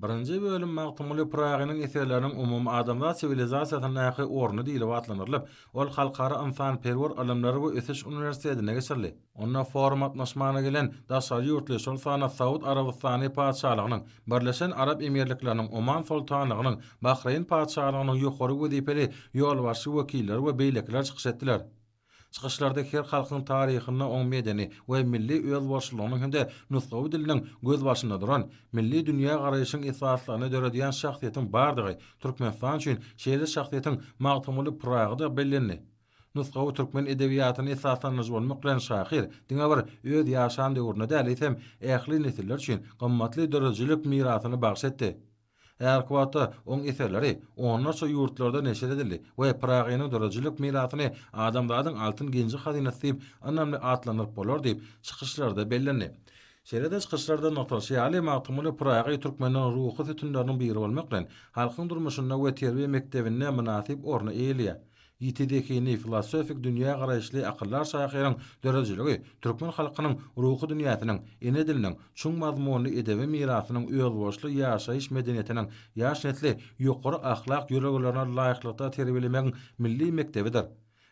Birinji bölüm Magtymguly Pyragynyň eserleriniň umumyadamzat siwilizasiýasyndaky orny diýlip atlandyrylyp, ol Halkara ynsanperwer ylymlar we ösüş uniwersitetinde geçirildi. Onda forum gatnaşmagyna gelen daşary ýurtly, şol sanda Saud Arabystany Patyşalygynyň, Birleşen Arap Emirlikleriniň Oman Soltanlygynyň, Bahreýn Patyşalygynyň ýokary wezipeli ýolbaşçy wekilleri we beýlekiler çykyş etdiler. Çykyşlarda her halkyň taryhynda oň medeni we milli özboluşlylygynyň hem-de nusgawy diliniň gözbaşynda duran, milli dünýägaraýşyň esaslaryny döredýän şahsyýetiň bardygy, Türkmenistan üçin şeýle şahsyýetiň Magtymguly Pyragy-da bellendi. Nusgawy türkmen edebiýatyny esaslandyryjy bolmak bilen şahyr diňe bir öz ýaşan döwrüne däl, eýsem, ähli nesiller üçin gymmatly döredijilik mirasyny bagyş etdi. Älkuwata oň eserleri onlarça ýurtlarda neşir edildi we Pyragynyň döredijilik mirasyny adamzadyň altyn genji-hazynasy diýip ynamly atlandyryp bolar diýip, çykyşlarda bellendi. Şeýle-de çykyşlarda nygtalyşy ýaly, Magtymguly Pyragy türkmeniň ruhy sütünleriniň biri bolmak bilen, halkyň durmuşynda we terbiýe mekdebinde mynasyp orny eýeleýär. Ýiti zehinli, filosofik dünýägaraýyşly akyldar şahyryň döredijiligi türkmen halkynyň ruhy dünýäsiniň, ene diliniň, çuň mazmunly edebi mirasynyň, özboluşly ýaşaýyş medeniýetiniň, ýaş nesli ýokary ahlak ýörelgelerine laýyklykda terbiýelemegiň milli mekdebidir.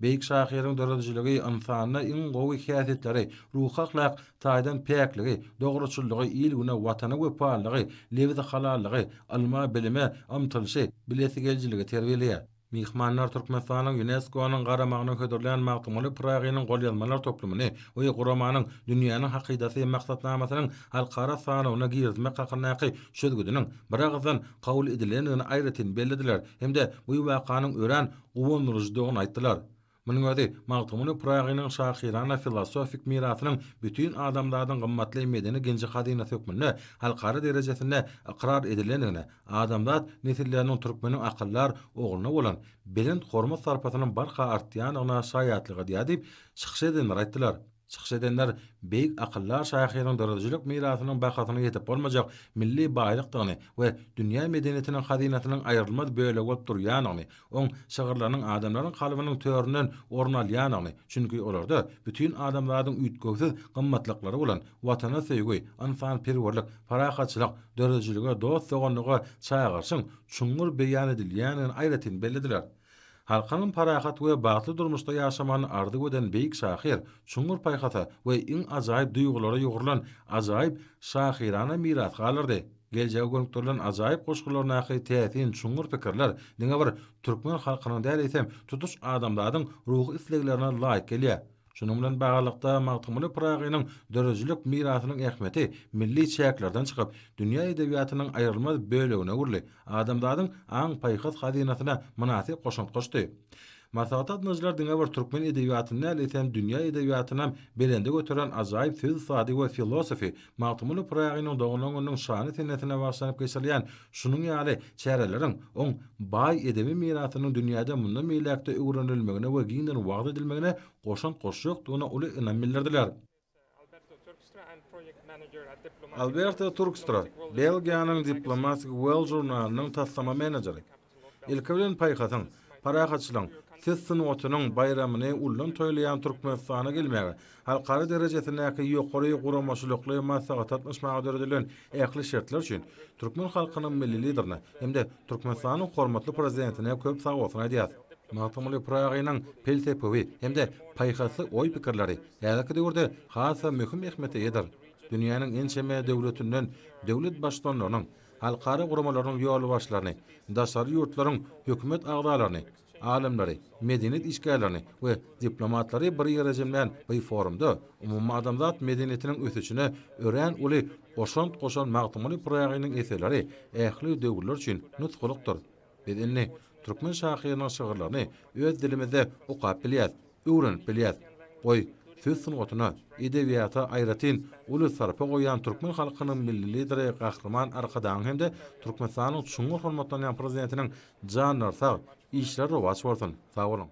Beýik şahyryň döredijiligi ynsanda iň gowy häsiýetleri, ruhy-ahlak taýdan päkligi, dogruçyllygy, il-güne, Watana wepalylygy, lebzi halallygy, ylma, bilime ymtylyşy, bilesigelijiligi terbiýeleýär. Myhmanlar Türkmenistanyň Ýunesko-nyň garamagyna hödürlän Magtymguly Pyragynyň golýazmalar toplumyny we guramanyň Dünýäniň hakydasy maksatnamasynyň halkara sanawyna girizmek hakyndaky çözgüdiniň biragyzdan kabul edilendigini aýratyn bellediler hem-de bu wakanyň örän guwandyryjydygyny aýtdylar. Munuň özi Magtymguly Pyragynyň şahyrana-filosofik mirasynyň bütin adamzadyň gymmatly medeni-genji hazynasy hökmünde halkara derejesinde ykrar edilendigine, adamzat nesilleriniň türkmeniň akyldar ogluna bolan belent hormat-sarpasynyň barha artýandygyna şaýatlyk edýär diýip, çykyş edenler aýtdylar. Çykyş edenler beýik akyldar şahyryň döredijilik mirasynyň bahasynyň ýetip bolmajak milli baýlykdygyny we dünýä medeniýetiniň hazynasynyň aýrylmaz bölegi bolup durýandygyny, oň şygyrlarynyň adamlaryň kalbynyň töründen orun alýandygyny, çünki olarda bütin adamzadyň üýtgewsiz gymmatlyklary bolan Watana söýgi, ynsanperwerlik, parahatçylyk, döredijilige, dost-doganlyga çagyryşyň çuňňur beýan edilýändigini aýratyn bellediler. Halkyň parahat we bagtly durmuşda ýaşamagyny arzuw eden beýik şahyr çuňňur paýhasa we iň ajaýyp duýgulara ýugrulan ajaýyp şahyrana miras galdyrdy. Geljege gönükdirilen ajaýyp goşgularyndaky täsin çuňňur pikirler diňe bir türkmen halkynyň däl eýsem tutuş adamzadyň ruhy isleglerine laýyk gelýär. Şunuň bilen baglylykda, Magtymguly Pyragynyň döredijilik mirasynyň ähmiýeti milli çäklerden çykyp, dünýä edebiýatynyň aýrylmaz bölegine öwrüldi, adamzadyň aň-paýhas hazynasyna mynasyp goşant goşdy. Maslahat gatnaşyjylar diňe bir türkmen edebiýatyny däl, eýsem, dünýä edebiýatynam belende göteren ajaýyp söz ussady we filosofy Magtymguly Pyragynyň doglan gününiň şanly senesine bagyşlanyp geçirilýän şunuň ýaly çäreleriň oň baý edebi mirasynyň dünýäde mundan beýläk-de öwrenilmegine we giňden wagyz edilmegine goşant goşjakdygyna uly ynam bildirdiler. Alberto Turkstra, Belgiýanyň diplomatik Well žurnalynyň taslama menejeri. Ilki bilen paýhasyň, parahatçylygyň, ses sungatynyň baýramyny ullan toýlaýan Türkmenistana gelmäge, halkara derejesindäki ýokary guramaçylykly maslahatlatnyşmaga döredilen ähli şertler üçin türkmen halkynyň Milli Liderine hem-de Türkmenistanyň hormatly Prezidentine köp sag bolsun aýdýarys. Magtymguly Pyragynyň pelsepewi hem-de paýhasly oý-pikirleri häzirki döwürde has-da möhüm ähmiýete eýedir. Dünýäniň ençeme döwletinden döwlet Baştutanlarynyň, halkara guramalarynyň ýolbaşçylaryny, daşary ýurtlaryň hökümet agzalaryny, alymlary, medeniýet işgärlerini we diplomatlary bir ýere jemlän bu forumda umumadamzat medeniýetiniň ösüşine örän uly goşant goşan Magtymguly Pyragynyň eserleri ähli döwürler üçin nusgalykdyr. Biz indi türkmen şahyrynyň şygyrlaryny öz dilimizde okap bilýäs, öwrenip bilýäs. Goý, söz sungatyna, edebiýata aýratyn uly sarpa goýýan türkmen halkynyň Milli Lideri Gahryman Arkadagyň hem-de Türkmenistanyň çuňňur hormatlanýan Prezidentiniň janlary sag, işleri rowaç bolsun! Sag boluň!